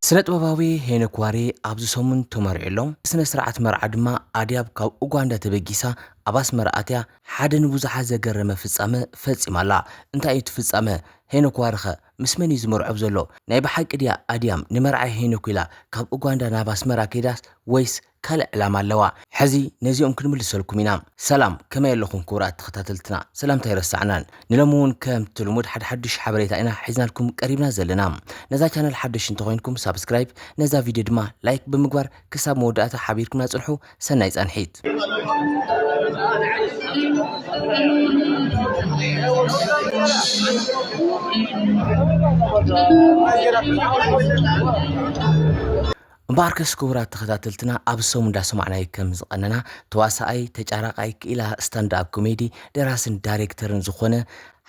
ስነ ጥበባዊ ሄኖክ ዋሪ ኣብዚ ሰሙን ተመሪዑ ኣሎ ስነ ስርዓት መርዓ ድማ ኣድያብ ካብ ኡጋንዳ ተበጊሳ ኣብ ኣስመራ ኣትያ ሓደ ንብዙሓት ዘገረመ ፍጻመ ፈጺማ ኣላ እንታይ እዩ እቲ ፍጻመ ሄኖክ ዋሪ ኸ ምስ መን እዩ ዝምርዖብ ዘሎ ናይ ብሓቂ ድያ ኣድያም ንመርዓ ሄኖክ ኢላ ካብ ኡጋንዳ ናብ ኣስመራ ከይዳስ ወይስ ካልእ ዕላማ ኣለዋ ሕዚ ነዚኦም ክንምልሰልኩም ኢና። ሰላም ከመይ ኣለኹም ክቡራት ተኸታተልትና ሰላምታ ኣይረሳዕናን ንሎሚ ውን ከምቲ ልሙድ ሓደ ሓዱሽ ሓበሬታ ኢና ሒዝናልኩም ቀሪብና ዘለና ነዛ ቻነል ሓደሽቲ እንተኾይንኩም ሳብስክራይብ ነዛ ቪድዮ ድማ ላይክ ብምግባር ክሳብ መወዳእታ ሓቢርኩምና ጽንሑ ሰናይ ፃንሒት። እምበኣርከስ ክቡራት ተኸታተልትና ኣብዚ ሰሙን ዳሰማዕናዮ ከም ዝቐነና ተዋሳኣይ፣ ተጫራቓይ፣ ክኢላ ስታንድ ኣፕ ኮሜዲ፣ ደራስን ዳሬክተርን ዝኾነ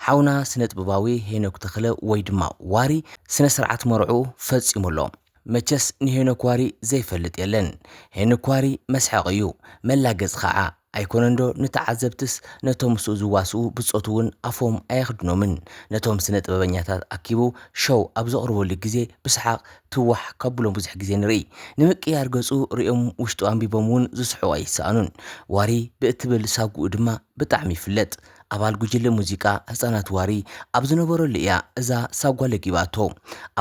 ሓውና ስነጥበባዊ ሄኖክ ተኽለ ወይ ድማ ዋሪ ስነ ስርዓት መርዕኡ ፈፂሙ ኣሎ። መቸስ ንሄኖክ ዋሪ ዘይፈልጥ የለን ሄንክ ዋሪ መስሐቅ እዩ መላገጺ ካዓ ኣይኮነንዶ ንተዓዘብትስ ነቶም ምስኡ ዝዋስኡ ብጾቱ ውን ኣፎም ኣየኽድኖምን ነቶም ስነ ጥበበኛታት ኣኪቡ ሸው ኣብ ዘቅርበሉ ግዜ ብስሓቅ ትዋሕ ከብሎም ብዙሕ ግዜ ንርኢ ንምቅያር ገጹ ሪኦም ውሽጡ ኣንቢቦም ውን ዝስሕቁ ኣይሰኣኑን ዋሪ ብእትብል ሳጉኡ ድማ ብጣዕሚ ይፍለጥ ኣባል ጉጅለ ሙዚቃ ህጻናት ዋሪ ኣብ ዝነበረሉ እያ እዛ ሳጓ ለጊባቶ።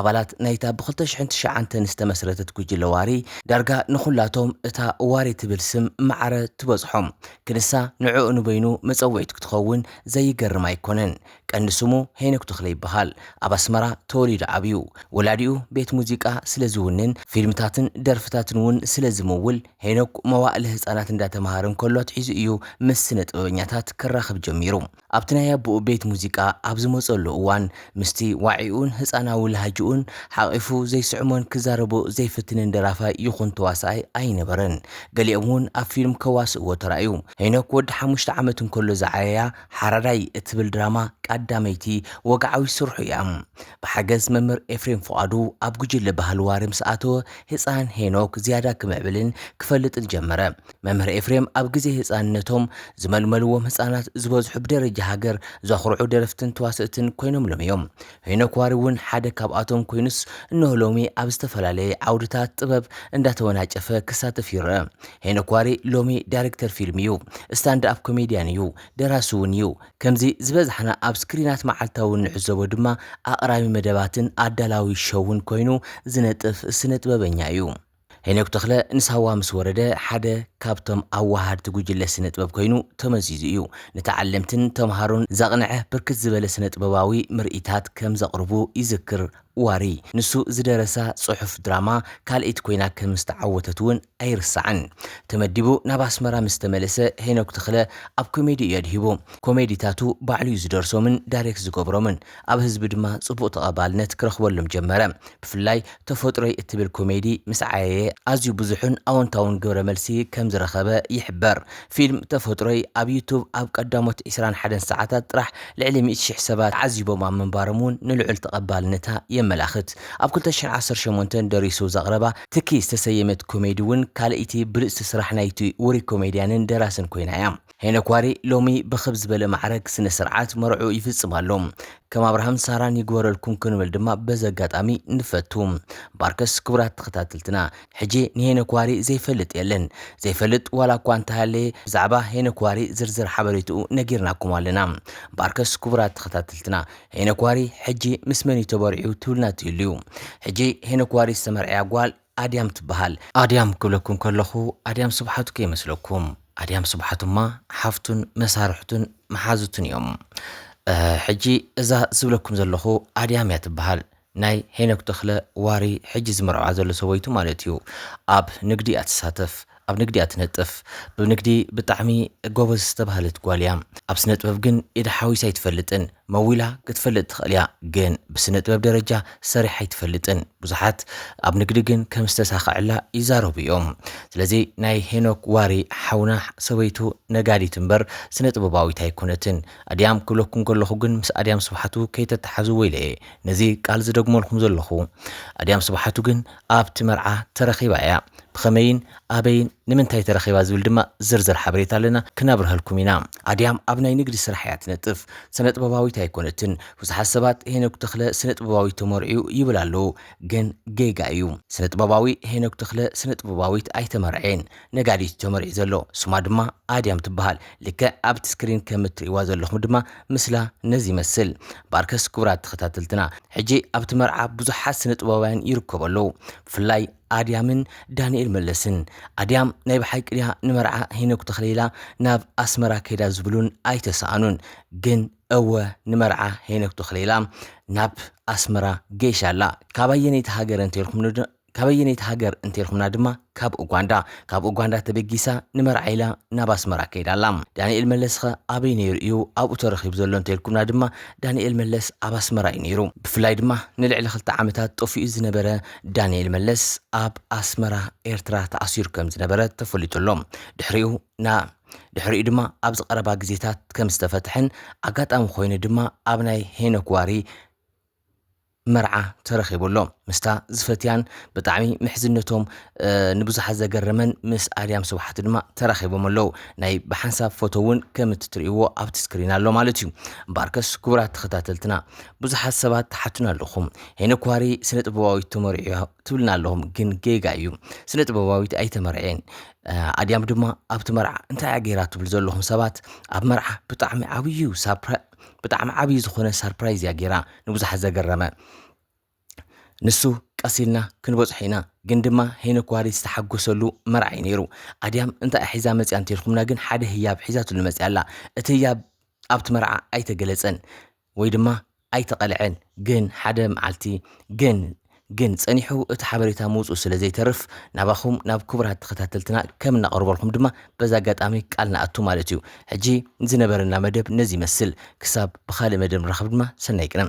ኣባላት ናይታ ብኽልተ ሽሕን ትሽዓንተን ዝተመስረተት ጉጅለ ዋሪ ዳርጋ ንኹላቶም እታ ዋሪ ትብል ስም ማዕረ ትበጽሖም ክንሳ ንዕኡ ንበይኑ መጸውዒት ክትኸውን ዘይገርም ኣይኮነን። ቀንዲ ስሙ ሄኖክ ተኽለ ይበሃል። ኣብ ኣስመራ ተወሊዱ ዓብዩ። ወላዲኡ ቤት ሙዚቃ ስለዝውንን ፊልምታትን ደርፍታትን እውን ስለዝምውል፣ ሄኖክ መዋእለ ህጻናት እንዳተማሃረ እንከሎ ኣትሒዙ እዩ ምስ ስነ ጥበበኛታት ክራኸብ ጀሚሩ። ኣብቲ ናይ ኣቦኡ ቤት ሙዚቃ ኣብ ዝመጸሉ እዋን ምስቲ ዋዒኡን ህጻናዊ ላህጅኡን ሓቚፉ ዘይስዕሞን ክዛረቦ ዘይፍትንን ደራፋይ ይኹን ተዋሳኣይ ኣይነበረን። ገሊኦም እውን ኣብ ፊልም ከዋስእዎ ተራእዩ። ሄኖክ ወዲ ሓሙሽተ ዓመት እንከሎ ዝዓየያ ሓራዳይ እትብል ድራማ ቃዳመይቲ ወግዓዊት ስርሑ እያ። ብሓገዝ መምህር ኤፍሬም ፍቓዱ ኣብ ጉጅለ ባህሊ ዋሪ ምስ ኣተወ ህጻን ሄኖክ ዝያዳ ክምዕብልን ክፈልጥን ጀመረ። መምህር ኤፍሬም ኣብ ግዜ ህጻንነቶም ዝመልመልዎም ህጻናት ዝበዝሑ ብደረጃ ሃገር ዘኹርዑ ደረፍትን ተዋሰእትን ኮይኖምሎም እዮም። ሄኖክ ዋሪ እውን ሓደ ካብኣቶም ኮይኑስ እነሆ ሎሚ ኣብ ዝተፈላለየ ዓውድታት ጥበብ እንዳተወናጨፈ ክሳተፍ ይረኣ። ሄኖክ ዋሪ ሎሚ ዳይረክተር ፊልም እዩ፣ ስታንድኣፕ ኮሜድያን እዩ፣ ደራሲ እውን እዩ፣ ከምዚ ዝበዝሓና ኣብ ስክሪናት መዓልታዊ እንዕዘቦ ድማ ኣቕራቢ መደባትን ኣዳላዊ ሸውን ኮይኑ ዝነጥፍ ስነጥበበኛ እዩ። ሄኖክ ተኽለ ንሳዋ ምስ ወረደ ሓደ ካብቶም ኣወሃድቲ ጉጅለ ስነጥበብ ኮይኑ ተመዚዙ እዩ። ንተዓለምትን ተምሃሮን ዘቕንዐ ብርክት ዝበለ ስነጥበባዊ ምርኢታት ከም ዘቕርቡ ይዝክር ዋሪ ንሱ ዝደረሳ ጽሑፍ ድራማ ካልኢት ኮይና ከም ዝተዓወተት እውን ኣይርሳዕን። ተመዲቡ ናብ ኣስመራ ምስ ተመለሰ ሄኖክ ተኽለ ኣብ ኮሜዲ እዩ ኣድሂቡ። ኮሜዲታቱ ባዕሉ እዩ ዝደርሶምን ዳይሬክት ዝገብሮምን። ኣብ ህዝቢ ድማ ጽቡቕ ተቐባልነት ክረኽበሎም ጀመረ። ብፍላይ ተፈጥሮይ እትብል ኮሜዲ ምስ ዓየየ ኣዝዩ ብዙሕን ኣወንታውን ግብረ መልሲ ከም ዝረኸበ ይሕበር። ፊልም ተፈጥሮይ ኣብ ዩቱብ ኣብ ቀዳሞት ዕስራን ሓደን ሰዓታት ጥራሕ ልዕሊ ሚእቲ ሽሕ ሰባት ተዓዚቦማ ምንባሮም እውን ንልዑል ተቐባልነታ የመላኽት። ኣብ ክልተ ሽሕ ዓሰርተ ሸሞንተ ደሪሱ ዘቕረባ ትኪ ዝተሰየመት ኮሜዲ እውን ካልእይቲ ብልጽቲ ስራሕ ናይቲ ውሩይ ኮሜድያንን ደራስን ኮይና እያ። ሄኖክ ዋሪ ሎሚ ብኽብ ዝበለ ማዕረግ ስነ ስርዓት መርዕኡ ይፍጽም ኣሎ። ከም ኣብርሃም ሳራን ይግበረልኩም ክንብል ድማ በዚ ኣጋጣሚ ንፈቱ። ባርከስ ክቡራት ተኸታተልትና! ሕጂ ንሄኖክ ዋሪ ዘይፈልጥ የለን። ዘይፈልጥ ዋላ እኳ እንተሃለየ ብዛዕባ ሄኖክ ዋሪ ዝርዝር ሓበሬትኡ ነጊርናኩም ኣለና። እምበኣርከስ ክቡራት ተኸታተልትና ሄኖክ ዋሪ ሕጂ ምስ መን እዩ ተበሪዑ ትብሉና ትህልዩ። ሕጂ ሄኖክ ዋሪ ዝተመርዕያ ጓል ኣድያም ትበሃል። ኣድያም ክብለኩም ከለኹ ኣድያም ስብሓቱ ከይመስለኩም። ኣድያም ስብሓቱ እማ ሓፍቱን መሳርሕቱን መሓዙቱን እዮም። ሕጂ እዛ ዝብለኩም ዘለኹ ኣድያም እያ ትበሃል። ናይ ሄኖክ ተኽለ ዋሪ ሕጂ ዝምርዐዋ ዘሎ ሰበይቱ ማለት እዩ ኣብ ንግዲ እያ ትሳተፍ ኣብ ንግዲ እያ ትነጥፍ ብንግዲ ብጣዕሚ ጎበዝ ዝተባህለት ጓል እያ ኣብ ስነጥበብ ግን ኢዳ ሓዊሳ ኣይትፈልጥን መዊላ ክትፈልጥ ትኽእል እያ ግን ብስነጥበብ ደረጃ ሰሪሓ ኣይትፈልጥን ብዙሓት ኣብ ንግዲ ግን ከም ዝተሳኸዐላ ይዛረቡ እዮም ስለዚ ናይ ሄኖክ ዋሪ ሓውና ሰበይቱ ነጋዲት እምበር ስነጥበባዊት ኣይኮነትን ኣድያም ክብለኩም ከለኹ ግን ምስ ኣድያም ስብሓቱ ከይተተሓዙ ወይለየ ነዚ ቃል ዝደግመልኩም ዘለኹ። ኣድያም ስብሓቱ ግን ኣብቲ መርዓ ተረኺባ ኢያ። ብኸመይን ኣበይን ንምንታይ ተረኺባ ዝብል ድማ ዝርዝር ሓበሬታ ኣለና ክነብርሀልኩም ኢና። ኣድያም ኣብ ናይ ንግዲ ስራሕ ኢያ ትነጥፍ። ስነጥበባዊት ኣይኮነትን። ብዙሓት ሰባት ሄኖክ ተኽለ ስነጥበባዊት ተመርዕዩ ይብል ኣለዉ ግን ጌጋ ኢዩ። ስነጥበባዊ ሄኖክ ተኽለ ስነጥበባዊት ኣይተመርዐየን። ነጋዲት ተመር እዩ ዘሎ ስማ ድማ ኣድያም ትበሃል ልክዕ ኣብቲ ስክሪን ከም እትርእይዋ ዘለኹም ድማ ምስላ ነዚ ይመስል ባርከስ ክቡራት ተኸታተልትና ሕጂ ኣብቲ መርዓ ብዙሓት ስነ ጥበባውያን ይርከቡ ኣለዉ ብፍላይ ኣድያምን ዳንኤል መለስን ኣድያም ናይ ብሓቂ ድያ ንመርዓ ሄኖክ ተኽለ ኢላ ናብ ኣስመራ ከይዳ ዝብሉን ኣይተሰኣኑን ግን እወ ንመርዓ ሄኖክ ተኽለ ኢላ ናብ ኣስመራ ገይሻ ኣላ ካብ ኣየነይቲ ሃገር እንተልኩም ካበየነይቲ ሃገር እንተልኩምና ድማ ካብ ኡጋንዳ። ካብ ኡጋንዳ ተበጊሳ ንመርዓ ኢላ ናብ ኣስመራ ከይዳ ኣላ። ዳኒኤል መለስ'ኸ ኣበይ ነይሩ እዩ ኣብኡ ተረኺቡ ዘሎ እንተልኩምና ድማ ዳኒኤል መለስ ኣብ ኣስመራ እዩ ነይሩ። ብፍላይ ድማ ንልዕሊ ክልተ ዓመታት ጠፊኡ ዝነበረ ዳኒኤል መለስ ኣብ ኣስመራ ኤርትራ ተኣሲሩ ከም ዝነበረ ተፈሊጡ ኣሎ። ድሕሪኡ ናብ ድሕሪኡ ድማ ኣብዚ ቀረባ ግዜታት ከም ዝተፈትሐን ኣጋጣሚ ኮይኑ ድማ ኣብ ናይ ሄኖክ ዋሪ መርዓ ተረኺቡ ኣሎ ምስታ ዝፈትያን ብጣዕሚ ምሕዝነቶም ንብዙሓት ዘገረመን ምስ ኣድያም ስብሓት ድማ ተራኺቦም ኣለው ናይ ብሓንሳብ ፎቶ እውን ከም እትትርእይዎ ኣብቲ ስክሪን ኣሎ ማለት እዩ እምበኣርከስ ክቡራት ተኸታተልትና ብዙሓት ሰባት ትሓቱና ኣለኹም ሄኖክ ኳሪ ስነ ጥበባዊት ተመሪዑ ትብልና ኣለኹም ግን ጌጋ እዩ ስነ ጥበባዊት ኣይተመርዔን ኣድያም ድማ ኣብቲ መርዓ እንታይ ገይራ ትብሉ ዘለኹም ሰባት ኣብ መርዓ ብጣዕሚ ዓብዩ ሳፕራ ብጣዕሚ ዓብዪ ዝኾነ ሳርፕራይዝ እያ ጌራ ንብዙሓት ዘገረመ ንሱ ቀስ ኢልና ክንበጽሖ ኢና ግን ድማ ሄኖክ ዋሪ ዝተሓጎሰሉ መርዓ እዩ ነይሩ ኣድያም እንታይ ሒዛ መፅያ እንተልኩምና ግን ሓደ ህያብ ሒዛትሉ መፅያ ኣላ እቲ ህያብ ኣብቲ መርዓ ኣይተገለፀን ወይ ድማ ኣይተቐልዐን ግን ሓደ መዓልቲ ግን ግን ጸኒሑ እቲ ሓበሬታ ምውጽኡ ስለ ዘይተርፍ ናባኹም ናብ ክቡራት ተኸታተልትና ከም እነቐርበልኩም ድማ በዚ ኣጋጣሚ ቃል ንኣቱ ማለት እዩ። ሕጂ ዝነበረና መደብ ነዚ ይመስል ክሳብ ብኻልእ መደብ ንራኸብ ድማ ሰናይ ቅነ።